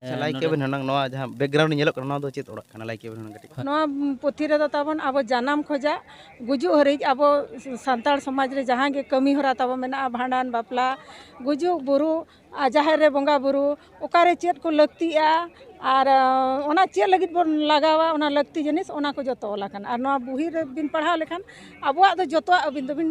Like ᱠᱮᱵᱮᱱ ᱦᱩᱱᱟᱹᱝ ᱱᱚᱣᱟ ᱡᱟᱦᱟᱸ ᱵᱮᱠᱜᱨᱟᱣᱩᱱᱰ ᱧᱮᱞᱚᱜ ᱠᱟᱱᱟ ᱱᱚᱣᱟ ᱫᱚ ᱪᱮᱫ ᱚᱲᱟᱜ ᱠᱟᱱᱟ ᱞᱟᱭᱤᱠ ᱠᱮᱵᱮᱱ ᱦᱩᱱᱟᱹᱝ ᱠᱟᱹᱴᱤᱡ ᱱᱚᱣᱟ ᱯᱩᱛᱷᱤ ᱨᱮᱫᱚ ᱛᱟᱵᱚᱱ ᱟᱵᱚ ᱡᱟᱱᱟᱢ ᱠᱷᱚᱡᱟᱜ ᱜᱩᱡᱩᱜ ᱦᱟᱹᱨᱤᱡ ᱟᱵᱚ ᱥᱟᱱᱛᱟᱲ ᱥᱚᱢᱟᱡᱽ ᱨᱮ ᱡᱟᱦᱟᱸ ᱜᱮ ᱠᱟᱹᱢᱤ ᱦᱚᱨᱟ ᱛᱟᱵᱚ ᱢᱮᱱᱟᱜᱼᱟ ᱵᱷᱟᱸᱰᱟᱱ ᱵᱟᱯᱞᱟ ᱜᱩᱡᱩᱜ ᱵᱩᱨᱩ ᱟᱨ ᱡᱟᱦᱮᱨ ᱨᱮ ᱵᱚᱸᱜᱟ ᱵᱩᱨᱩ ᱚᱠᱟᱨᱮ ᱪᱮᱫ ᱠᱚ ᱞᱟᱹᱠᱛᱤᱜᱼᱟ ᱟᱨ ᱚᱱᱟ ᱪᱮᱫ ᱞᱟᱹᱜᱤᱫ ᱵᱚᱱ ᱞᱟᱜᱟᱣᱟ ᱚᱱᱟ ᱞᱟᱹᱠᱛᱤ ᱡᱤᱱᱤᱥ ᱚᱱᱟ ᱠᱚ ᱡᱚᱛᱚ ᱚᱞ ᱟᱠᱟᱱᱟ ᱟᱨ ᱱᱚᱣᱟ ᱵᱩᱦᱤ ᱨᱮᱵᱤᱱ ᱯᱟᱲᱦᱟᱣ ᱞᱮᱠᱷᱟᱱ ᱟᱵᱚᱣᱟᱜ ᱫᱚ ᱡᱚᱛᱚᱣᱟᱜ ᱟᱹᱵᱤᱱ ᱫᱚᱵᱤᱱ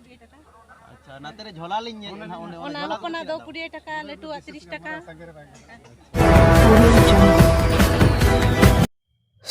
ᱟᱪᱪᱷᱟ ᱱᱟᱛᱮ ᱨᱮ ᱡᱷᱚᱞᱟ ᱞᱤᱧ ᱧᱮᱞ ᱮᱫᱟ ᱚᱸᱰᱮ ᱚᱱᱟ ᱦᱚᱯᱚᱱᱟᱜ ᱫᱚ 20 ᱴᱟᱠᱟ ᱞᱟᱹᱴᱩᱣᱟᱜ 30 ᱴᱟᱠᱟ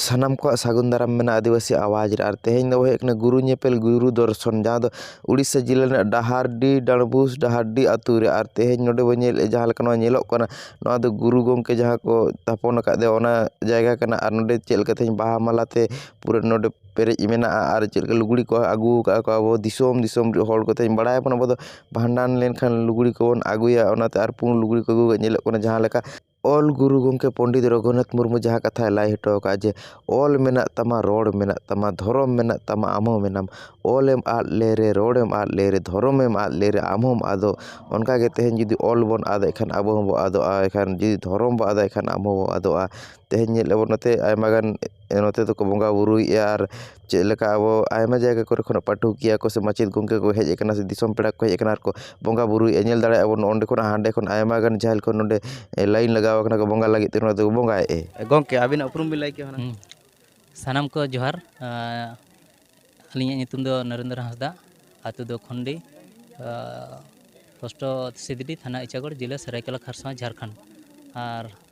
ᱥᱟᱱᱟᱢ ᱠᱚᱣᱟᱜ ᱥᱟᱹᱜᱩᱱ ᱫᱟᱨᱟᱢ ᱢᱮᱱᱟᱜᱼᱟ ᱟᱹᱫᱤᱵᱟᱹᱥᱤ ᱟᱣᱟᱡᱽ ᱨᱮ ᱟᱨ ᱛᱮᱦᱮᱧ ᱫᱚ ᱦᱩᱭᱩᱜ ᱠᱟᱱᱟ ᱜᱩᱨᱩ ᱧᱮᱯᱮᱞ ᱜᱩᱨᱩ ᱫᱚᱨᱥᱚᱱ ᱡᱟᱦᱟᱸ ᱫᱚ ᱩᱲᱤᱥᱥᱟ ᱡᱮᱞᱟ ᱨᱮᱱᱟᱜ ᱰᱟᱦᱟᱨᱰᱤ ᱰᱟᱸᱰᱵᱩᱥ ᱰᱟᱦᱟᱨᱰᱤ ᱟᱹᱛᱩ ᱨᱮ ᱟᱨ ᱛᱮᱦᱮᱧ ᱱᱚᱰᱮ ᱵᱚᱱ ᱧᱮᱞᱮᱫᱼᱟ ᱡᱟᱦᱟᱸ ᱞᱮᱠᱟ ᱱᱚᱣᱟ ᱧᱮᱞᱚᱜ ᱠᱟᱱᱟ ᱱᱚᱣᱟ ᱫᱚ ᱜᱩᱨᱩ ᱜᱚᱢᱠᱮ ᱡᱟᱦᱟᱸ ᱠᱚ ᱛᱷᱟᱯᱚᱱ ᱟᱠᱟᱫᱮᱭᱟ ᱚᱱᱟ ᱡᱟᱭᱜᱟ ᱠᱟᱱᱟ ᱟᱨ ᱱᱚᱰᱮ ᱪᱮᱫ ᱞᱮᱠᱟ ᱛᱮᱦᱮᱧ ᱵᱟᱦᱟ ᱢᱟᱞᱟ ᱛᱮ ᱯᱩᱨᱟᱹ ᱱᱚᱰᱮ ᱯᱮᱨᱮᱡ ᱢᱮᱱᱟᱜᱼᱟ ᱟᱨ ᱪᱮᱫ ᱞᱮᱠᱟ ᱞᱩᱜᱽᱲᱤ ᱠᱚ ᱟᱹᱜᱩ ᱠᱟᱜᱼᱟ ᱠᱚ ᱟᱵᱚ ᱫᱤᱥᱚᱢ ᱫᱤᱥᱚᱢ ᱦᱚᱲ ᱠᱚᱛᱮ ᱵᱟᱲᱟᱭ ᱟᱵᱚᱱ ᱟᱵᱚ ᱫᱚ ᱵᱷᱟᱸᱰᱟᱱ ᱞᱮᱱᱠᱷᱟᱱ ᱞᱩᱜᱽᱲᱤ ᱠᱚᱵᱚᱱ ᱟᱹᱜᱩᱭᱟ ᱚᱱᱟᱛᱮ ᱟᱨ ᱯᱩᱬ ᱞᱩᱜᱽᱲᱤ ᱠᱚ ᱟᱹᱜᱩ ᱠᱟᱜᱼᱟ ᱧᱮᱞᱚᱜ ᱠᱟᱱᱟ ᱡᱟᱦᱟᱸ ᱞᱮᱠᱟ ᱚᱞ ᱜᱩᱨᱩ ᱜᱚᱢᱠᱮ ᱯᱚᱱᱰᱤᱛ ᱨᱟᱹᱜᱷᱩᱱᱟᱛᱷ ᱢᱩᱨᱢᱩ ᱡᱟᱦᱟᱸ ᱠᱟᱛᱷᱟᱭ ᱞᱟᱹᱭ ᱦᱚᱴᱚ ᱠᱟᱜᱼᱟ ᱡᱮ ᱚᱞ ᱢᱮᱱᱟᱜ ᱛᱟᱢᱟ ᱨᱚᱲ ᱢᱮᱱᱟᱜ ᱛᱟᱢᱟ ᱫᱷᱚᱨᱚᱢ ᱢᱮᱱᱟᱜ ᱛᱟᱢᱟ ᱟᱢ ᱦᱚᱸ ᱢᱮᱱᱟᱢ ᱚᱞᱮᱢ ᱟᱫ ᱞᱮᱨᱮ ᱨᱚᱲᱮᱢ ᱟᱫ ᱞᱮᱨᱮ ᱫᱷᱚᱨᱚᱢᱮᱢ ᱟᱫ ᱞᱮᱨᱮ ᱟᱢ ᱦᱚᱸᱢ ᱟᱫᱚᱜ ᱚᱱᱠᱟ ᱜᱮ ᱛᱮᱦᱮᱧ ᱡᱩᱫᱤ ᱚᱞ ᱵᱚᱱ ᱟᱫᱮᱜ ᱠᱷᱟᱱ ᱟᱵᱚ ᱦᱚᱸᱵᱚᱱ ᱟᱫᱚᱜᱼᱟ ᱮᱱᱠᱷᱟᱱ ᱡᱩᱫᱤ ᱫᱷᱚᱨᱚᱢ ᱵᱚᱱ ᱟᱫᱮᱜ ᱠᱷᱟᱱ ᱟᱵᱚ ᱦᱚᱸᱵᱚᱱ ᱟᱫᱚᱜᱼᱟ ᱛᱮᱦᱮᱧ ᱧᱮᱞ ᱟᱵᱚᱱ ᱱᱚᱛᱮ ᱟᱭᱢᱟ ᱜᱟᱱ ᱱᱚᱛᱮ ᱫᱚᱠᱚ ᱵᱚᱸᱜᱟᱼᱵᱩᱨᱩᱭᱮᱫᱼᱟ ᱟᱨ ᱪᱮᱫ ᱞᱮᱠᱟ ᱟᱵᱚ ᱟᱭᱢᱟ ᱡᱟᱭᱜᱟ ᱠᱚᱨᱮ ᱠᱷᱚᱱᱟᱜ ᱯᱟᱹᱴᱷᱩᱠᱤᱭᱟᱹ ᱠᱚ ᱥᱮ ᱢᱟᱪᱮᱫ ᱜᱚᱢᱠᱮ ᱠᱚ ᱦᱮᱡ ᱠᱟᱱᱟ ᱥᱮ ᱫᱤᱥᱚᱢ ᱯᱮᱲᱟ ᱠᱚ ᱦᱮᱡ ᱠᱟᱱᱟ ᱟᱨᱠᱚ ᱵᱚᱸᱜᱟᱼᱵᱩᱨᱩᱭᱮᱫᱼᱟ ᱧᱮᱞ ᱫᱟᱲᱮᱭᱟᱜᱼᱟ ᱵᱚᱱ ᱱᱚᱸᱰᱮ ᱠᱷᱚᱱᱟᱜ ᱦᱟᱸᱰᱮ ᱠᱷᱚᱱ ᱟᱭᱢᱟ ᱜᱟᱱ ᱡᱟᱦᱮᱨ ᱠᱚ ᱱᱚᱸᱰᱮ ᱞᱟᱭᱤᱱ ᱞᱟᱜᱟᱣ ᱠᱟᱱᱟ ᱠᱚ ᱵᱚᱸᱜᱟ ᱞᱟᱹᱜᱤᱫ ᱛᱮ ᱱᱚᱣᱟ ᱫᱚᱠᱚ ᱵᱚᱸᱜᱟᱭᱮᱫᱼᱟ ᱜᱚᱢᱠᱮ ᱟᱹᱵᱤᱱᱟᱜ ᱩᱯᱨᱩᱢ ᱵᱤᱱ ᱞᱟᱹᱭ ᱠᱮᱭᱟ ᱦᱩᱱᱟᱹᱝ ᱥᱟᱱᱟᱢ ᱠᱚ ᱡᱚᱦᱟᱨ ᱟᱹᱞᱤᱧᱟᱜ ᱧᱩᱛᱩᱢ ᱫᱚ ᱱᱚᱨᱮᱱᱫᱨᱚ ᱦᱟᱸᱥᱫᱟ ᱟᱛᱳ ᱫᱚ ᱠᱷᱚᱱᱰᱤ ᱯᱳᱥᱴᱚ ᱥᱤᱫᱽᱰᱤ ᱛᱷᱟᱱᱟ ᱤᱪᱟᱜᱚᱲ ᱡᱮᱞᱟ ᱥᱚᱨᱟᱭᱠᱮᱞᱞᱟ ᱠᱷᱟᱨᱥᱚᱶᱟ ᱡᱷᱟᱲᱠᱷᱚᱸᱰ ᱟᱨ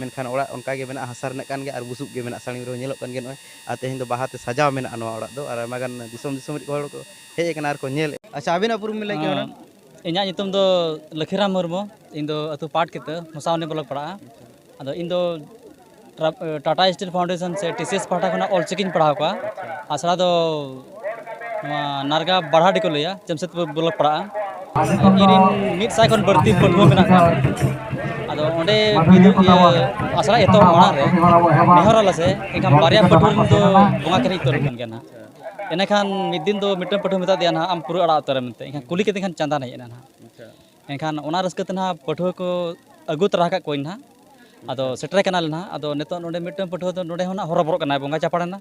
ᱢᱮᱱᱠᱷᱟᱱ ᱚᱲᱟᱜ ᱚᱱᱠᱟ ᱜᱮ ᱢᱮᱱᱟᱜᱼᱟ ᱦᱟᱥᱟ ᱨᱮᱱᱟᱜ ᱠᱟᱱ ᱜᱮᱭᱟ ᱟᱨ ᱵᱩᱥᱩᱵ ᱜᱮ ᱢᱮᱱᱟᱜᱼᱟ ᱥᱟᱹᱲᱤᱢ ᱨᱮᱦᱚᱸ ᱧᱮᱞᱚᱜ ᱠᱟᱱ ᱜᱮᱭᱟ ᱱᱚᱜᱼᱚᱭ ᱟᱨ ᱛᱮᱦᱮᱧ ᱫᱚ ᱵᱟᱦᱟ ᱛᱮ ᱥᱟᱡᱟᱣ ᱢᱮᱱᱟᱜᱼᱟ ᱱᱚᱣᱟ ᱚᱲᱟᱜ ᱫᱚ ᱟᱨ ᱟᱭᱢᱟ ᱜᱟᱱ ᱫᱤᱥᱚᱢ ᱫᱤᱥᱚᱢ ᱨᱤᱱ ᱦᱚᱲ ᱠᱚ ᱦᱮᱡ ᱟᱠᱟᱱᱟ ᱟᱨ ᱠᱚ ᱧᱮᱞ ᱮᱫᱼᱟ ᱟᱪᱪᱷᱟ ᱟᱹᱵᱤᱱᱟᱜ ᱩᱯᱨᱩᱢ ᱵᱤᱱ ᱞᱟᱹᱭ ᱠᱮᱭᱟ ᱦᱩᱱᱟᱹᱝ ᱤᱧᱟᱹᱜ ᱧᱩᱛᱩᱢ ᱫᱚ ᱞᱟᱹᱠᱷᱤᱨᱟᱢ ᱢᱩᱨᱢᱩ ᱤᱧ ᱫᱚ ᱟᱹᱛᱩ ᱯᱟᱴ ᱠᱤᱛᱟᱹ ᱢᱚᱥᱟᱵᱚᱱᱤ ᱵᱞᱚᱠ ᱯᱟᱲᱟᱜᱼᱟ ᱟᱫᱚ ᱤᱧ ᱫᱚ ᱴᱟᱴᱟ ᱥᱴᱤᱞ ᱯᱷᱟᱣᱩᱱᱰᱮᱥᱚᱱ ᱥᱮ ᱴᱤ ᱥᱤ ᱮᱥ ᱯᱟᱦᱴᱟ ᱠᱷᱚᱱᱟᱜ ᱚᱞ ᱪᱤᱠᱤᱧ ᱯᱟᱲᱦᱟᱣ ᱠᱚᱣᱟ ᱟᱥᱲᱟ ᱫᱚ ᱱᱚᱣᱟ ᱱᱟᱨᱜᱟ ᱵᱟᱲᱦᱟᱰᱤ ᱠᱚ ᱞᱟᱹᱭᱟ ᱡᱟᱢᱥᱮᱫᱽᱯᱩᱨ ᱵᱞᱚᱠ ᱯᱟᱲᱟᱜᱼᱟ ᱤᱧᱨᱮᱱ ᱢᱤᱫ ᱥᱟᱭ ᱠᱷᱚᱱ ᱵᱟᱹᱲᱛᱤ ᱯᱟᱹᱴᱷᱩᱣᱟᱹ ᱢᱮᱱᱟᱜ ᱠᱚᱣᱟ ᱟᱫᱚ ᱚᱸᱰᱮ ᱟᱥᱲᱟ ᱮᱛᱚᱦᱚᱵ ᱢᱟᱲᱟᱝ ᱨᱮ ᱱᱮᱦᱚᱨ ᱟᱞᱮ ᱥᱮ ᱮᱱᱠᱷᱟᱱ ᱵᱟᱨᱭᱟ ᱯᱟᱹᱴᱷᱩᱣᱟᱹ ᱨᱮᱱ ᱫᱚ ᱵᱚᱸᱜᱟ ᱠᱟᱹᱨᱤ ᱩᱛᱟᱹᱨ ᱟᱠᱟᱱ ᱜᱮᱭᱟ ᱱᱟᱦᱟᱜ ᱮᱸᱰᱮᱠᱷᱟᱱ ᱢᱤᱫ ᱫᱤᱱ ᱫᱚ ᱢᱤᱫᱴᱟᱹᱝ ᱯᱟᱹᱴᱷᱩᱣᱟᱹ ᱢᱮᱛᱟ ᱫᱮᱭᱟ ᱱᱟᱦᱟᱜ ᱟᱢ ᱯᱩᱨᱟᱹ ᱟᱲᱟᱜ ᱩᱛᱟᱹᱨᱮᱢ ᱢᱮᱱᱛᱮ ᱮᱱᱠᱷᱟᱱ ᱠᱩᱞᱤ ᱠᱮᱫᱮ ᱠᱷᱟᱱ ᱪᱟᱸᱫᱟᱱ ᱦᱮᱡ ᱮᱱᱟ ᱱᱟᱦᱟᱜ ᱮᱱᱠᱷᱟᱱ ᱚᱱᱟ ᱨᱟᱹᱥᱠᱟᱹ ᱛᱮ ᱱᱟᱦᱟᱜ ᱯᱟᱹᱴᱷᱩᱣᱟᱹ ᱠᱚ ᱟᱹᱜᱩ ᱛᱚᱨᱟ ᱟᱠᱟᱫ ᱠᱚᱣᱟᱧ ᱱᱟᱦᱟᱜ ᱟᱫᱚ ᱥᱮᱴᱮᱨᱮ ᱠᱟᱱᱟᱞᱮ ᱱᱟᱦᱟᱜ ᱟᱫᱚ ᱱᱤᱛᱚᱜ ᱱᱚᱰᱮ ᱢᱤᱫᱴᱟᱹᱝ ᱯᱟᱹᱴᱷᱩᱣᱟᱹ ᱫᱚ ᱱᱚᱰᱮ ᱦᱚᱸ ᱱᱟᱦᱟᱜ ᱦᱚᱨᱚ ᱵᱚᱨᱚᱜ ᱠᱟᱱᱟᱭ ᱵᱚᱸᱜᱟ ᱪᱟᱯᱟᱲ ᱮᱱᱟ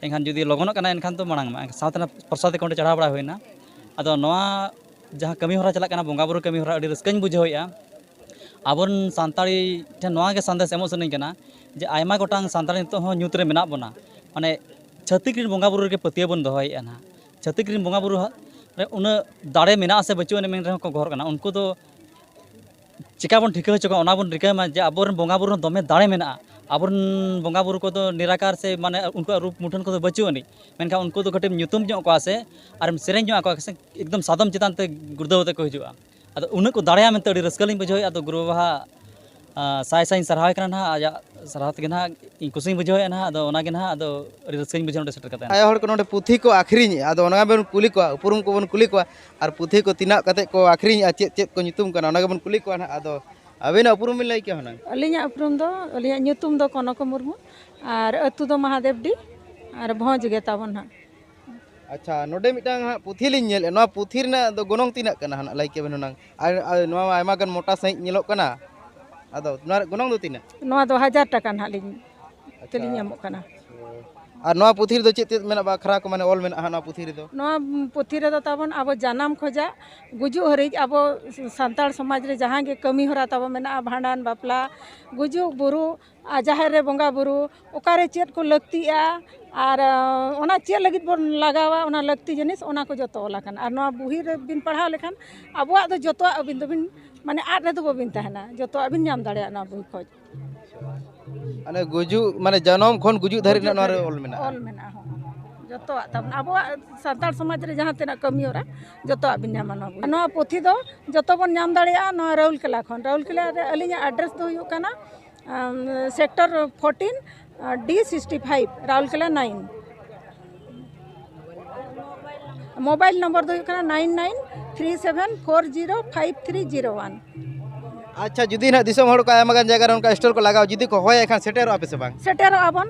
ᱮᱱᱠᱷᱟᱱ ᱡᱩᱫᱤ ᱞᱚᱜᱚᱱᱚᱜ ᱠᱟᱱᱟᱭ ᱮᱱᱠᱷᱟᱱ ᱫᱚ ᱢᱟᱲᱟᱝ ᱢᱟ ᱥᱟᱶᱛᱮ ᱱᱟᱦᱟᱜ ᱯᱨᱚᱥᱟᱫᱽ ᱠᱚ ᱚᱸᱰᱮ ᱪᱟᱲᱦᱟᱣ ᱵᱟᱲᱟ ᱦᱩᱭᱱᱟ ᱟᱫᱚ ᱱᱚᱣᱟ ᱡᱟᱦᱟᱸ ᱠᱟᱹᱢᱤ ᱦᱚᱨᱟ ᱪᱟᱞᱟᱜ ᱠᱟᱱᱟ ᱵᱚᱸᱜᱟ ᱵᱩᱨᱩ ᱠᱟᱹᱢᱤ ᱦᱚᱨᱟ ᱟᱹᱰᱤ ᱨᱟᱹᱥᱠᱟᱹᱧ ᱵᱩᱡᱷᱟᱹᱣᱮᱜᱼᱟ ᱟᱵᱚ ᱨᱮᱱ ᱥᱟᱱᱛᱟᱲᱤ ᱴᱷᱮᱱ ᱱᱚᱣᱟ ᱜᱮ ᱥᱟᱸᱫᱮᱥ ᱮᱢᱚᱜ ᱥᱟᱱᱟᱹᱧ ᱠᱟᱱᱟ ᱡᱮ ᱟᱭᱢᱟ ᱜᱚᱴᱟᱝ ᱥᱟᱱᱛᱟᱲᱤ ᱱᱤᱛᱚᱜ ᱦᱚᱸ ᱧᱩᱛ ᱨᱮ ᱢᱮᱱᱟᱜ ᱵᱚᱱᱟ ᱢᱟᱱᱮ ᱪᱷᱟᱹᱛᱤᱠ ᱨᱮᱱ ᱵᱚᱸᱜᱟ ᱵᱩᱨᱩ ᱨᱮᱜᱮ ᱯᱟᱹᱛᱭᱟᱹᱣ ᱵᱚᱱ ᱫᱚᱦᱚᱭᱮᱜᱼᱟ ᱱᱟᱦᱟᱜ ᱪᱷᱟᱹᱛᱤᱠ ᱨᱮᱱ ᱵᱚᱸᱜᱟ ᱵᱩᱨᱩ ᱨᱮ ᱩᱱᱟᱹᱜ ᱫᱟᱲᱮ ᱢᱮᱱᱟᱜ ᱟᱥᱮ ᱵᱟᱹᱪᱩᱜ ᱟᱹᱱᱤᱡ ᱢᱮᱱ ᱨᱮᱦᱚᱸ ᱠᱚ ᱜᱚᱦᱚᱨ ᱠᱟᱱᱟ ᱩᱱᱠᱩ ᱫᱚ ᱪᱮᱠᱟ ᱵᱚᱱ ᱴᱷᱤᱠᱟᱹ ᱦᱚᱪᱚ ᱠᱚᱣᱟ ᱚᱱᱟ ᱵᱚᱱ ᱨᱤᱠᱟᱹᱭ ᱢᱟ ᱡᱮ ᱟᱵᱚᱨᱮᱱ ᱵᱚᱸᱜᱟ ᱵᱩᱨᱩ ᱨᱮ ᱫᱚᱢᱮ ᱫᱟᱲᱮ ᱢᱮᱱᱟᱜᱼᱟ ᱟᱵᱚᱨᱮᱱ ᱵᱚᱸᱜᱟ ᱵᱩᱨᱩ ᱠᱚᱫᱚ ᱱᱤᱨᱟᱠᱟᱨ ᱥᱮ ᱢᱟᱱᱮ ᱩᱱᱠᱩᱣᱟᱜ ᱨᱩᱯ ᱢᱩᱴᱷᱟᱹᱱ ᱠᱚᱫᱚ ᱵᱟᱹᱪᱩᱜ ᱟᱹᱱᱤᱡ ᱢᱮᱱᱠᱷᱟᱱ ᱩᱱᱠᱩ ᱫᱚ ᱠᱟᱹᱴᱤᱡ ᱮᱢ ᱧᱩᱛᱩᱢ ᱧᱚᱜ ᱠᱚᱣᱟ ᱥᱮ ᱟᱨᱮᱢ ᱥᱮᱨᱮᱧ ᱧᱚᱜ ᱟᱠᱚᱣᱟ ᱥᱮ ᱮᱠᱫᱚᱢ ᱥᱟᱫᱚᱢ ᱪᱮᱛᱟᱱ ᱛᱮ ᱜᱩᱲᱫᱟᱹᱣ ᱠᱟᱛᱮᱫ ᱠᱚ ᱦᱤᱡᱩᱜᱼᱟ ᱟᱫᱚ ᱩᱱᱟᱹᱜ ᱠᱚ ᱫᱟᱲᱮᱭᱟᱜᱼᱟ ᱢᱮᱱᱛᱮ ᱟᱹᱰᱤ ᱨᱟᱹᱥᱠᱟᱹ ᱞᱤᱧ ᱵᱩᱡᱷᱟᱹᱣᱮᱫᱼᱟ ᱟᱫᱚ ᱜᱩᱨᱩ ᱵᱟᱵᱟ ᱦᱟᱸᱜ ᱥᱟᱭ ᱥᱟᱭᱤᱧ ᱥᱟᱨᱦᱟᱣᱮ ᱠᱟᱱᱟ ᱱᱟᱦᱟᱜ ᱟᱡᱟᱜ ᱥᱟᱨᱦᱟᱣ ᱛᱮᱜᱮ ᱱᱟᱦᱟᱜ ᱤᱧ ᱠᱩᱥᱤᱧ ᱵᱩᱡᱷᱟᱹᱣᱮᱫᱼᱟ ᱱᱟᱦᱟᱜ ᱟᱫᱚ ᱚᱱᱟᱜᱮ ᱱᱟᱦᱟᱜ ᱟᱫᱚ ᱟᱹᱰᱤ ᱨᱟᱹᱥᱠᱟᱹᱧ ᱵᱩᱡᱷᱟᱹᱣᱟ ᱱᱚᱰᱮ ᱥᱮᱴᱮᱨ ᱠᱟᱛᱮᱫ ᱟᱭᱳ ᱦᱚᱲ ᱠᱚ ᱱᱚᱰᱮ ᱯᱩᱛᱷᱤ ᱠᱚ ᱟᱹᱠᱷᱨᱤᱧᱮᱫᱼᱟ ᱟᱫᱚ ᱚᱱᱟ ᱜᱮᱵᱚᱱ ᱠᱩᱞᱤ ᱠᱚᱣᱟ ᱩᱯᱨᱩᱢ ᱠᱚᱵᱚᱱ ᱠᱩᱞᱤ ᱠᱚᱣᱟ ᱟᱨ ᱯᱩᱛᱷᱤ ᱠᱚ ᱛᱤᱱᱟᱹᱜ ᱠᱟᱛᱮᱫ ᱠᱚ ᱟᱹᱠᱷᱨᱤᱧᱮᱫᱼᱟ ᱪᱮᱫ ᱪᱮᱫ ᱠᱚ ᱧᱩᱛᱩᱢ ᱠᱟᱱᱟ ᱚᱱᱟ ᱜᱮᱵᱚᱱ ᱠᱩᱞᱤ ᱠᱚᱣᱟ ᱱᱟᱦᱟᱜ ᱟᱫᱚ ᱟᱹᱵᱤᱱᱟᱜ ᱩᱯᱨᱩᱢ ᱵᱤᱱ ᱞᱟᱹᱭ ᱠᱮᱭᱟ ᱦᱩᱱᱟᱹᱝ ᱟᱹᱞᱤᱧᱟᱜ ᱩᱯᱨᱩᱢ ᱫᱚ ᱟᱹᱞᱤᱧᱟᱜ ᱧᱩᱛᱩᱢ ᱫᱚ ᱠᱚᱱᱚᱠᱟ ᱢᱩᱨᱢᱩ ᱟᱨ ᱟᱹᱛᱩ ᱫᱚ ᱢᱟᱦᱟᱫᱮᱵᱽᱰᱤ ᱟᱨ ᱵᱷᱚᱸᱡᱽ ᱜᱮ ᱛᱟᱵᱚᱱ ᱦᱟᱸᱜ ᱟᱪᱪᱷᱟ ᱱᱚᱰᱮ ᱢᱤᱫᱴᱟᱝ ᱦᱟᱸᱜ ᱯᱩᱛᱷᱤ ᱞᱤᱧ ᱧᱮᱞᱮᱫ ᱱᱚᱣᱟ ᱯᱩᱛᱷᱤ ᱨᱮᱱᱟᱜ ᱫᱚ ᱜᱚᱱᱚᱝ ᱛᱤᱱᱟᱹᱜ ᱠᱟᱱᱟ ᱦᱟᱸᱜ ᱞᱟᱹᱭ ᱠᱮᱵᱮᱱ ᱦᱩᱱᱟᱹᱝ ᱟᱨ ᱟᱨ ᱱᱚᱣᱟ ᱢᱟ ᱟᱭᱢᱟ ᱜᱟᱱ ᱢᱚᱴᱟ ᱥᱟᱺᱦᱤᱡ ᱧᱮᱞᱚᱜ ᱠᱟᱱᱟ ᱟᱫᱚ ᱱᱚᱣᱟ ᱨᱮᱭᱟᱜ ᱜᱚᱱᱚᱝ ᱫᱚ ᱛᱤᱱᱟᱹᱜ ᱱᱚᱣᱟ ᱫᱚ ᱦᱟᱡᱟᱨ ᱴᱟᱠᱟ ᱱᱟᱦᱟᱜ ᱞᱤᱧ ᱛᱮᱞᱤᱧ ᱮᱢᱚᱜ ᱠᱟᱱᱟ ᱟᱨ ᱱᱚᱣᱟ ᱯᱩᱛᱷᱤ ᱨᱮᱫᱚ ᱪᱮᱫ ᱪᱮᱫ ᱢᱮᱱᱟᱜᱼᱟ ᱟᱠᱷᱨᱟ ᱠᱚ ᱢᱟᱱᱮ ᱚᱞ ᱢᱮᱱᱟᱜᱼᱟ ᱦᱟᱸᱜ ᱱᱚᱣᱟ ᱯᱩᱛᱷᱤ ᱨᱮᱫᱚ ᱱᱚᱣᱟ ᱯᱩᱛᱷᱤ ᱨᱮᱫᱚ ᱛᱟᱵᱚᱱ ᱟᱵᱚ ᱡᱟᱱᱟᱢ ᱠᱷᱚᱱᱟᱜ ᱜᱩᱡᱩᱜ ᱦᱟᱹᱨᱤᱡ ᱟᱵᱚ ᱥᱟᱱᱛᱟᱲ ᱥᱚᱢᱟᱡᱽ ᱨᱮ ᱡᱟᱦᱟᱸ ᱜᱮ ᱠᱟᱹᱢᱤ ᱦᱚᱨᱟ ᱛᱟᱵᱚᱱ ᱢᱮᱱᱟᱜᱼᱟ ᱵᱷᱟᱸᱰᱟᱱ ᱵᱟᱯᱞᱟ ᱜᱩᱡᱩᱜ ᱵᱩᱨᱩᱜ ᱟᱨ ᱡᱟᱦᱮᱨ ᱨᱮ ᱵᱚᱸᱜᱟ ᱵᱩᱨᱩ ᱚᱠᱟᱨᱮ ᱪᱮᱫ ᱠᱚ ᱞᱟᱹᱠᱛᱤᱜᱼᱟ ᱟᱨ ᱚᱱᱟ ᱪᱮᱫ ᱞᱟᱹᱜᱤᱫ ᱵᱚᱱ ᱞᱟᱜᱟᱣᱟ ᱚᱱᱟ ᱞᱟᱹᱠᱛᱤ ᱡᱤᱱᱤᱥ ᱚᱱᱟ ᱠᱚ ᱡᱚᱛᱚ ᱚᱞ ᱟᱠᱟᱱᱟ ᱟᱨ ᱱᱚᱣᱟ ᱵᱩᱦᱤ ᱨᱮᱵᱤᱱ ᱯᱟᱲᱦᱟᱣ ᱞᱮᱠᱷᱟᱱ ᱟᱵᱚᱣᱟᱜ ᱫᱚ ᱡᱚᱛᱚᱣᱟᱜ ᱟᱹᱵᱤᱱ ᱫᱚᱵᱤᱱ ᱢᱟᱱᱮ ᱟᱫ ᱨᱮᱫᱚ ᱵᱟᱹᱵᱤᱱ ᱛᱟᱦᱮᱱᱟ ᱡᱚᱛᱚᱣᱟᱜ ᱵᱤᱱ ᱧᱟᱢ ᱫᱟᱲᱮᱭᱟᱜᱼᱟ ᱱᱚᱣᱟ ᱵᱩᱦᱤ ᱠᱷᱚᱡ ᱢᱟᱱᱮ ᱜᱩᱡᱩᱜ ᱢᱟᱱᱮ ᱡᱟᱱᱟᱢ ᱠᱷᱚᱱ ᱜᱩᱡᱩᱜ ᱫᱷᱟᱹᱨᱤᱡ ᱨᱮᱱᱟᱜ ᱱᱚᱣᱟ ᱨᱮ ᱚᱞ ᱢᱮᱱᱟᱜᱼᱟ ᱚᱞ ᱢᱮᱱᱟᱜᱼᱟ ᱦᱚᱸ ᱡᱚᱛᱚᱣᱟᱜ ᱛᱟᱵᱚᱱ ᱟᱵᱚᱣᱟᱜ ᱥᱟᱱᱛᱟᱲ ᱥᱚᱢᱟᱡᱽ ᱨᱮ ᱡᱟᱦᱟᱸ ᱛᱤᱱᱟᱹᱜ ᱠᱟᱹᱢᱤ ᱦᱚᱨᱟ ᱡᱚᱛᱚᱣᱟᱜ ᱵᱤᱱ ᱧᱟᱢᱟ ᱱᱚᱣᱟ ᱵᱚᱭ ᱱᱚᱣᱟ ᱯᱩᱛᱷᱤ ᱫᱚ ᱡᱚᱛᱚ ᱵᱚᱱ ᱧᱟᱢ ᱫᱟᱲᱮᱭᱟᱜᱼᱟ ᱱᱚᱣᱟ ᱨᱟᱣᱩᱞᱠᱮᱞᱟ ᱠᱷᱚᱱ ᱨᱟᱣᱩᱞᱠᱮᱞᱟ ᱨᱮ ᱟᱹᱞᱤᱧᱟᱜ ᱟᱰᱨᱮᱥ ᱫᱚ ᱦᱩᱭᱩᱜ ᱠᱟᱱᱟ sector fourteen D sixty five ᱨᱟᱣᱩᱞᱠᱮᱞᱟ ᱱᱟᱭᱤᱱ ᱢᱳᱵᱟᱭᱤᱞ ᱱᱚᱢᱵᱚᱨ ᱫᱚ ᱦᱩᱭᱩᱜ ᱠᱟᱱᱟ nine nine three seven four zero five three zero one ᱟᱪᱪᱷᱟ ᱡᱩᱫᱤ ᱱᱟᱦᱟᱜ ᱫᱤᱥᱚᱢ ᱦᱚᱲ ᱠᱚ ᱟᱭᱢᱟ ᱜᱟᱱ ᱡᱟᱭᱜᱟ ᱨᱮ ᱚᱱᱠᱟ ᱥᱴᱚᱞ ᱠᱚ ᱞᱟᱜᱟᱣᱟ ᱡᱩᱫᱤ ᱠᱚ ᱦᱚᱦᱚᱭᱟ ᱮᱱᱠᱷᱟᱱ ᱥᱮᱴᱮᱨᱚᱜᱼᱟ ᱯᱮᱥᱮ ᱵᱟᱝ ᱥᱮᱴᱮᱨᱚᱜᱼᱟ ᱵᱚᱱ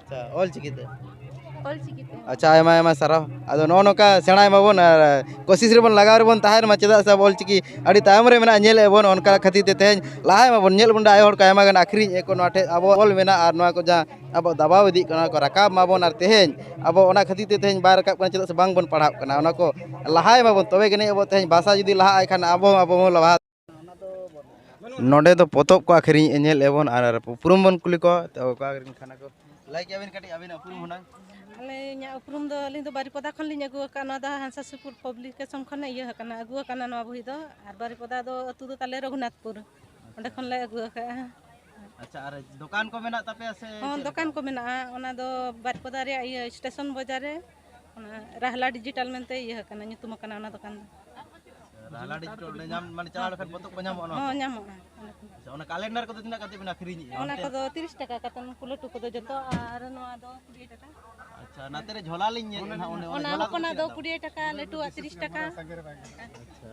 ᱟᱪᱪᱷᱟ ᱚᱞ ᱪᱤᱠᱤ ᱛᱮ ᱚᱞ ᱪᱤᱠᱤ ᱛᱮ ᱟᱪᱪᱷᱟ ᱟᱭᱢᱟ ᱟᱭᱢᱟ ᱥᱟᱨᱦᱟᱣ ᱟᱫᱚ ᱱᱚᱜᱼᱚ ᱱᱚᱝᱠᱟ ᱥᱮᱬᱟᱭ ᱢᱟᱵᱚᱱ ᱟᱨ ᱠᱳᱥᱤᱥ ᱨᱮᱵᱚᱱ ᱞᱟᱜᱟᱣ ᱨᱮᱵᱚᱱ ᱛᱟᱦᱮᱱ ᱢᱟ ᱪᱮᱫᱟᱜ ᱥᱮ ᱟᱵᱚ ᱚᱞ ᱪᱤᱠᱤ ᱟᱹᱰᱤ ᱛᱟᱭᱚᱢ ᱨᱮ ᱢᱮᱱᱟᱜᱼᱟ ᱧᱮᱞᱮᱫ ᱟᱵᱚᱱ ᱚᱱᱠᱟ ᱠᱷᱟᱹᱛᱤᱨ ᱛᱮ ᱛᱮᱦᱮᱧ ᱞᱟᱦᱟᱭ ᱢᱟᱵᱚᱱ ᱧᱮᱞ ᱵᱚᱱ ᱟᱭᱳ ᱦᱚᱲ ᱠᱚ ᱟᱭᱢᱟ ᱜᱟᱱ ᱟᱹᱠᱷᱨᱤᱧ ᱮᱫ ᱠᱚ ᱱᱚᱣᱟ ᱴᱷᱮᱡ ᱟᱵᱚ ᱚᱞ ᱢᱮᱱᱟᱜᱼᱟ ᱟᱨ ᱱᱚᱣᱟ ᱠᱚ ᱡᱟᱦᱟᱸ ᱟᱵᱚ ᱫᱟᱵᱟᱣ ᱤᱫᱤᱜ ᱠᱟᱱᱟ ᱚᱱᱟ ᱠᱚ ᱨᱟᱠᱟᱵ ᱢᱟᱵᱚᱱ ᱟᱨ ᱛᱮᱦᱮᱧ ᱟᱵᱚ ᱚᱱᱟ ᱠᱷᱟᱹᱛᱤᱨ ᱛᱮ ᱛᱮᱦᱮᱧ ᱵᱟᱭ ᱨᱟᱠᱟᱵ ᱠᱟᱱᱟ ᱪᱮᱫᱟᱜ ᱥᱮ ᱵᱟᱝ ᱵᱚᱱ ᱯᱟᱲᱦᱟᱜ ᱠᱟᱱᱟ ᱚᱱᱟ ᱠᱚ ᱞᱟᱦᱟᱭ ᱢᱟᱵᱚᱱ ᱛᱚᱵᱮ ᱜᱟᱹᱱᱤᱡ ᱟᱵᱚ ᱛᱮᱦᱮᱧ ᱵᱷᱟᱥᱟ ᱡᱩᱫᱤ ᱞᱟᱦᱟᱜᱼᱟ ᱮᱱᱠᱷᱟᱱ ᱟᱵᱚ ᱦᱚᱸ ᱟᱵᱚ ᱦᱚᱸ ᱞᱟᱦᱟ ᱱᱚᱰᱮ ᱫᱚ ᱯᱚᱛᱚᱵ ᱠᱚ ᱟᱹᱠᱷᱨᱤᱧ ᱧᱮᱞ ᱮᱵᱚᱱ ᱟᱨ ᱩᱯᱨᱩᱢ ᱵᱚᱱ ᱠᱩᱞᱤ ᱠᱚᱣᱟ ᱛᱚ ᱚᱠᱟ ᱨᱮᱱ ᱠᱟᱱᱟ ᱠᱚ ᱞᱟᱹᱭ ᱠᱮᱭᱟᱵᱤᱱ ᱠᱟᱹᱴᱤᱡ ᱟᱹᱵᱤᱱ ᱩᱯᱨᱩᱢ ᱦᱩᱱᱟᱹᱝ ᱟᱞᱮ ᱤᱧᱟᱹᱜ ᱩᱯᱨᱩᱢ ᱫᱚ ᱟᱹᱞᱤᱧ ᱫᱚ ᱵᱟᱨᱤᱯᱚᱫᱟ ᱠᱷᱚᱱ ᱞᱤᱧ ᱟᱹᱜᱩ ᱟᱠᱟᱫ ᱱᱚᱣᱟ ᱫᱚ ᱦᱟᱸᱥᱟ ᱥᱩᱯᱩᱨ ᱯᱟᱵᱽᱞᱤᱠᱮᱥᱚᱱ ᱠᱷᱚᱱ ᱤᱭᱟᱹ ᱟᱠᱟᱱᱟ ᱟᱹᱜᱩ ᱟᱠᱟᱱᱟ ᱱᱚᱣᱟ ᱵᱳᱭ ᱫᱚ ᱟᱨ ᱵᱟᱨᱤᱯᱚᱫᱟ ᱫᱚ ᱟᱹᱛᱩ ᱫᱚ ᱛᱟᱞᱮ ᱨᱚᱜᱷᱩᱱᱟᱛᱷᱯᱩᱨ ᱚᱸᱰᱮ ᱠᱷᱚᱱ ᱞᱮ ᱟᱹᱜᱩ ᱟᱠᱟᱫᱼᱟ ᱟᱪᱪᱷᱟ ᱟᱨ ᱫᱚᱠᱟᱱ ᱠᱚ ᱢᱮᱱᱟᱜ ᱛᱟᱯᱮᱭᱟ ᱥᱮ ᱦᱚᱸ ᱫᱚᱠᱟᱱ ᱠᱚ ᱢᱮᱱᱟᱜᱼᱟ ᱚᱱᱟ ᱫᱚ ᱵᱟᱨᱤᱯᱚᱫᱟ ᱨᱮᱭᱟᱜ ᱤᱭᱟᱹ ᱥᱴᱮᱥᱚᱱ ᱵᱟᱡᱟᱨ ᱨᱮ ᱚᱱᱟ ᱨᱟᱦᱞᱟ ᱰᱤᱡᱤᱴᱟᱞ ᱢᱮᱱᱛᱮ ᱤᱭᱟᱹ ᱟᱠᱟᱱᱟ ᱧᱩᱛᱩᱢ ᱟᱠᱟᱱᱟ ᱚᱱᱟ ᱫᱚᱠᱟᱱ ᱫᱚ ᱨᱟᱦᱞᱟ ᱰᱤᱡᱤᱴᱟᱞ ᱚᱸᱰᱮ ᱧᱟᱢ ᱢᱟᱱᱮ ᱪᱟᱞᱟᱣ ᱞᱮᱠᱷᱟᱱ ᱯᱚᱛᱚᱵ ᱠᱚ ᱧᱟᱢᱚᱜᱼᱟ ᱱᱚᱣᱟ ᱦᱚᱸ ᱧᱟᱢᱚᱜᱼᱟ ᱚᱱᱟ ᱠᱚ᱾ ᱟᱪᱪᱷᱟ ᱚᱱᱟ ᱠᱟᱞᱮᱱᱰᱟᱨ ᱠᱚᱫᱚ ᱛᱤᱱᱟᱹᱜ ᱠᱟᱛᱮ ᱵᱮᱱ ᱟᱹᱠᱷᱨᱤᱧᱮᱜᱼᱟ ᱚᱱᱟ ᱚᱱᱛᱮ? ᱠᱚᱫᱚ ᱛᱤᱨᱤᱥ ᱴᱟᱠᱟ ᱠᱟᱛᱮ ᱩᱱᱠᱩ ᱞᱟᱹᱴᱩ ᱠᱚᱫᱚ ᱡᱚᱛᱚ ᱟᱨ ᱱᱚᱣᱟ ᱫᱚ ᱠᱩᱲᱤ ᱴᱟᱠᱟ ᱟᱪᱪᱷᱟ ᱱᱟᱛᱮ ᱨᱮ ᱡᱷᱚᱞᱟ ᱞᱤᱧ ᱧᱮᱞ ᱮᱫᱟ ᱚᱱᱮ ᱚᱱᱟ ᱡᱷᱚᱞᱟ ᱠᱚ ᱦᱚᱯᱚᱱᱟᱜ ᱫᱚ ᱛᱤᱱᱟᱹᱜ ᱫᱟᱢ? ᱠᱩᱲᱤ ᱴᱟᱠᱟ ᱞᱟᱹᱴᱩᱣᱟᱜ ᱛᱤᱨᱤᱥ ᱴᱟᱠᱟ ᱟᱪᱪᱷᱟ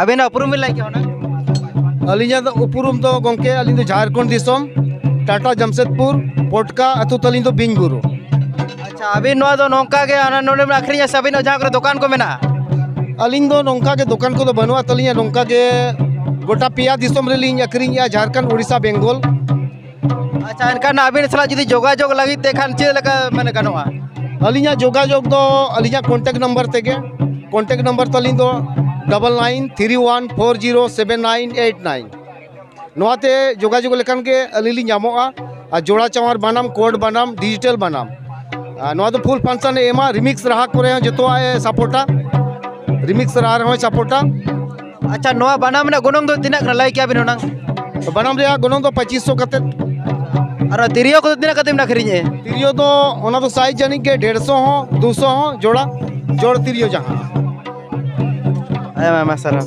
ᱟᱵᱮᱱᱟᱜ ᱩᱯᱨᱩᱢ ᱵᱮᱱ ᱞᱟᱹᱭ ᱠᱮᱭᱟ ᱚᱱᱟ ᱟᱹᱞᱤᱧᱟᱜ ᱫᱚ ᱩᱯᱨᱩᱢ ᱫᱚ ᱜᱚᱢᱠᱮ ᱟᱹᱞᱤᱧ ᱫᱚ ᱡᱷᱟᱲᱠᱷᱚᱸᱰ ᱫᱤᱥᱚᱢ ᱴᱟᱴᱟ ᱡᱟᱢᱥᱮᱫᱽᱯᱩᱨ ᱯᱚᱴᱠᱟ ᱟᱹᱛᱩ ᱛᱟᱹᱞᱤᱧ ᱫᱚ ᱵᱤᱧ ᱵᱩᱨᱩ ᱟᱪᱪᱷᱟ ᱟᱹᱵᱤᱱ ᱱᱚᱣᱟ ᱫᱚ ᱱᱚᱝᱠᱟ ᱜᱮ ᱦᱟᱱᱟ ᱱᱚᱰᱮ ᱵᱮᱱ ᱟᱹᱠᱷᱨᱤᱧᱟ ᱥᱮ ᱟᱹᱵᱤᱱᱟᱜ ᱡᱟᱦᱟᱸ ᱠᱚᱨᱮ ᱫᱚᱠᱟᱱ ᱠᱚ ᱢᱮᱱᱟᱜᱼᱟ ᱟᱹᱞᱤᱧ ᱫᱚ ᱱᱚᱝᱠᱟ ᱜᱮ ᱫᱚᱠᱟᱱ ᱠᱚᱫᱚ ᱵᱟᱹᱱᱩᱜᱼᱟ ᱛᱟᱹᱞᱤᱧᱟ ᱱᱚᱝᱠᱟ ᱜᱮ ᱜᱚᱴᱟ ᱯᱮᱭᱟ ᱫᱤᱥᱚᱢ ᱨᱮᱞᱤᱧ ᱟᱹᱠᱷᱨᱤᱧᱮᱜᱼᱟ ᱡᱷᱟᱲᱠᱷᱚᱸᱰ ᱩᱲᱤᱥᱥᱟ ᱵᱮᱝᱜᱚᱞ ᱟᱪᱪᱷᱟ ᱮᱱᱠᱷᱟᱱ ᱟᱹᱵᱤᱱ ᱥᱟᱞᱟᱜ ᱡᱩᱫᱤ ᱡᱳᱜᱟᱡᱳᱜᱽ ᱞᱟᱹᱜᱤᱫ ᱛᱮ ᱠᱷᱟᱱ ᱪᱮᱫ ᱞᱮᱠᱟ ᱢᱟᱱᱮ ᱜᱟᱱᱚᱜᱼᱟ ᱟᱹᱞᱤᱧᱟᱜ ᱡᱳᱜᱟᱡᱳᱜᱽ ᱫᱚ ᱟᱹᱞᱤᱧᱟᱜ ᱠᱚᱱᱴᱮᱠᱴ ᱱᱟᱢᱵᱟᱨ ᱛᱮᱜᱮ ᱠᱚᱱᱴᱮᱠᱴ ᱱᱟᱢᱵᱟᱨ ᱛᱟᱹᱞᱤᱧ ᱫᱚ double nine three one four zero seven nine eight nine ᱱᱚᱣᱟᱛᱮ ᱡᱳᱜᱟᱡᱳᱜᱽ ᱞᱮᱠᱷᱟᱱ ᱜᱮ ᱟᱹᱞᱤᱧ ᱞᱤᱧ ᱧᱟᱢᱚᱜᱼᱟ ᱟᱨ ᱡᱳᱲᱟ ᱪᱟᱣᱟᱨ ᱵᱟᱱᱟᱢ ᱠᱳᱰ ᱵᱟᱱᱟᱢ ᱰᱤᱡᱤᱴᱮᱞ ᱵᱟᱱᱟᱢ ᱟᱨ ᱱᱚᱣᱟ ᱫᱚ ᱯᱷᱩᱞ ᱯᱷᱟᱱᱥᱚᱱ ᱮ ᱮᱢᱟ ᱨᱤᱢᱤᱠᱥ ᱨᱟᱦᱟ ᱠᱚᱨᱮ ᱦᱚᱸ ᱡᱚᱛᱚᱣᱟᱜ ᱮ ᱥᱟᱯᱳᱨᱴᱟ ᱨᱤᱢᱤᱠᱥ ᱨᱟᱦᱟ ᱨᱮᱦᱚᱸᱭ ᱥᱟᱯᱳᱨᱴᱟ ᱟᱪᱪᱷᱟ ᱱᱚᱣᱟ ᱵᱟᱱᱟᱢ ᱨᱮᱱᱟᱜ ᱜᱚᱱᱚᱝ ᱫᱚ ᱛᱤᱱᱟᱹᱜ ᱠᱟᱱᱟ ᱞᱟᱹᱭ ᱠᱮᱭᱟ ᱵᱤᱱ ᱦᱩᱱᱟᱹᱝ ᱵᱟᱱᱟᱢ ᱨᱮᱭᱟᱜ ᱜᱚᱱᱚᱝ ᱫᱚ ᱯᱚᱸᱪᱤᱥ ᱥᱚ ᱠᱟᱛᱮᱫ ᱟᱨ ᱛᱤᱨᱭᱳ ᱠᱚᱫᱚ ᱛᱤᱱᱟᱹᱜ ᱠᱟᱛᱮᱢ ᱟᱹᱠᱷᱨᱤᱧᱮᱫᱼᱟ ᱛᱤᱨᱭᱳ ᱫᱚ ᱚᱱᱟ ᱫᱚ ᱥᱟᱭᱤᱡᱽ ᱡᱟᱹᱱᱤᱡ ᱜᱮ ᱰᱮᱲ ᱥᱚ ᱦᱚᱸ ᱫᱩ ᱥᱚ ᱦᱚᱸ ᱡᱳᱲᱟ ᱡᱳᱲ ᱛᱤᱨᱭᱳ ᱡᱟᱦᱟᱸ ᱟᱭᱢᱟ ᱟᱭᱢᱟ ᱥᱟᱨᱦᱟᱣ